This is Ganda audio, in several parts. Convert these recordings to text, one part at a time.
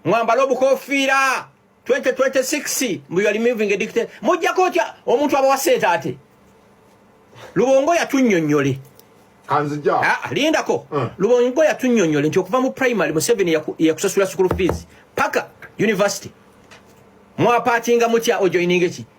mwambale obukofiira 2026 mbu yali moving edicte mujjako otya omuntu abawa sente ate lubongo yatunyonyole kanzija ah, ah, lindako eh. lubongo yatunyonyole nti okuva mu primary museveni yakusasula sukulu fees paka university mwapatinga mutya ojoininga eki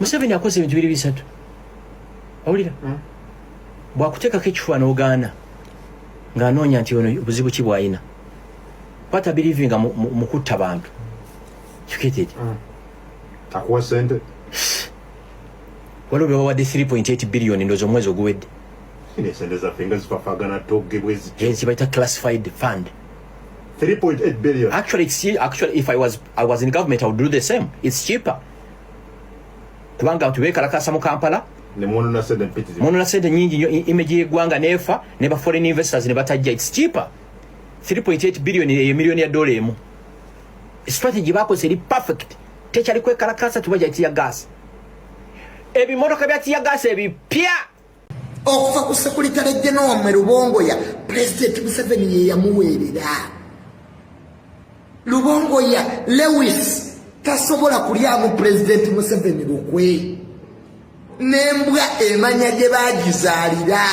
museveni akoze ebintu biri bisatu awulira hmm? bwakuteekako ekifuba n'ogaana ng'anoonya nti ono obuzibu ki bwalina bata birivinga mu kutta bantu kiketeri hmm. akuwa sente waliwo bebawadde 3.8 billioni ndozi omwezi oguwedde ezibayita classified fund 3.8 billion actually, actually if I was, I was in government I would do the same it's cheaper kubanga abantu bekalakasa mu kampala munona sente nyingi nyo image yegwanga nefa ne ba foreign investors ne batajja it's cheaper 3.8 billion ye million ya dola emu strategy bako seri perfect tekyali kwekalakasa tubaja tia gas ebimotoka bya tia gas ebipya okuva ku sekulitale genome lubongoya pulezidenti museveni yeyamuweerera lubongoya lewis tasobola kulyamu pulezidenti museveni lukwe nembwa emanya gye bagizaalira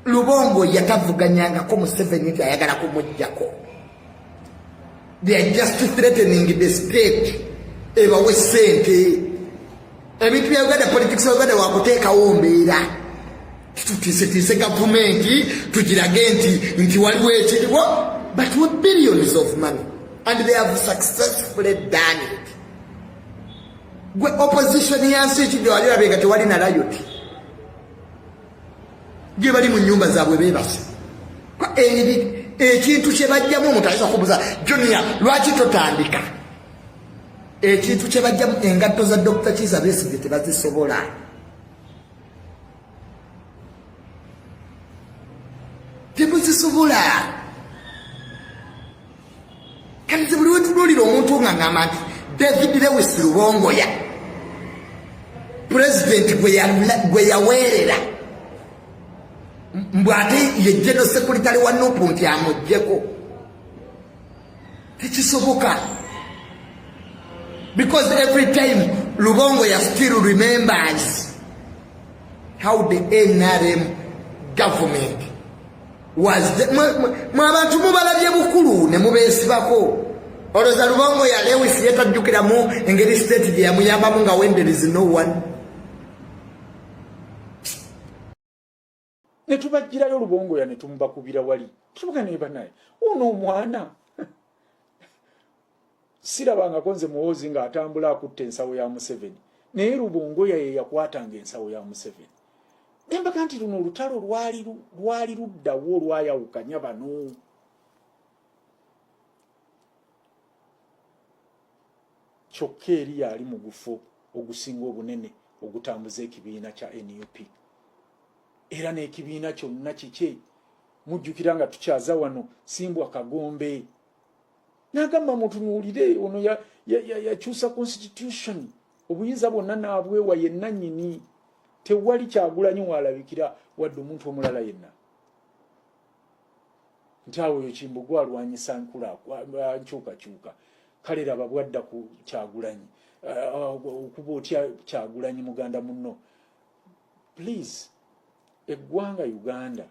lubongoya tavuganyangako museveni nti ayagala kumugjako they are just threatening the state ebawe sente ebintu bya uganda politics ya uganda wakuteekawo mbeera tutiisetiise gavumenti tugirage nti nti waliwo ekiriwo but with billions of money and they have successfully done it gwe opposition yansi ekijawalirabega tewali na rayoti gyebali mu nyumba zaabwe bebase ekintu kyebajjamu omuntu ayinza kubuza junia lwaki totandika ekintu kyebajjamu engatto za dokita kiza besigye tebazisobola temuzisobola kanze buli wetunuulira omuntu nga ngamba nti david lewis lubongoya pulezidenti gwe yaweerera mbu ate ye geno sekuritale wa nupu nti amuggyeko tekisoboka because every time lubongo ya still remembers how the nrm government mwabantu mubalabye bukulu ne mubeesibako olowooza lubongo ya lewis ye tajjukiramu engeri state gye yamuyambamu nga wenderezi no one ne tubajjirayo lubongo ya ne tumubakubira wali tutubuka naye banaye uno omwana Sirabangako nze muhoozi nga atambula akutte ensawo ya museveni naye lubongoya yeyakwatanga ensawo ya museveni nembaga nti luno olutalo lwali luddawo olwayawukanya bano kyokka eri yaali mugufo ogusinga obunene ogutambuza ekibiina kya nup era n'ekibiina kyonna kikye mujjukira nga tukyaza wano simbwa kagombe nagamba mutunuulire ono yakyusa ya, ya, ya constitution obuyinza bwonna naabwewa yenna nyini tewali kyagulanyi waalabikira wadde omuntu omulala yenna nti awo oyo kimbugwe alwanyisa nkyukakyuka kale laba bwadda ku kyagulanyi uh, uh, okuba otya kyagulanyi muganda munno please eggwanga uganda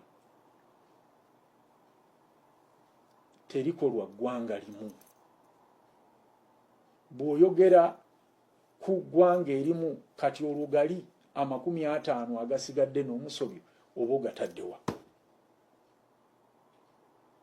terikolwa ggwanga limu bw'oyogera ku ggwanga erimu kati olwo gali amakumi ataano agasigadde n'omusobyo oba ogataddewa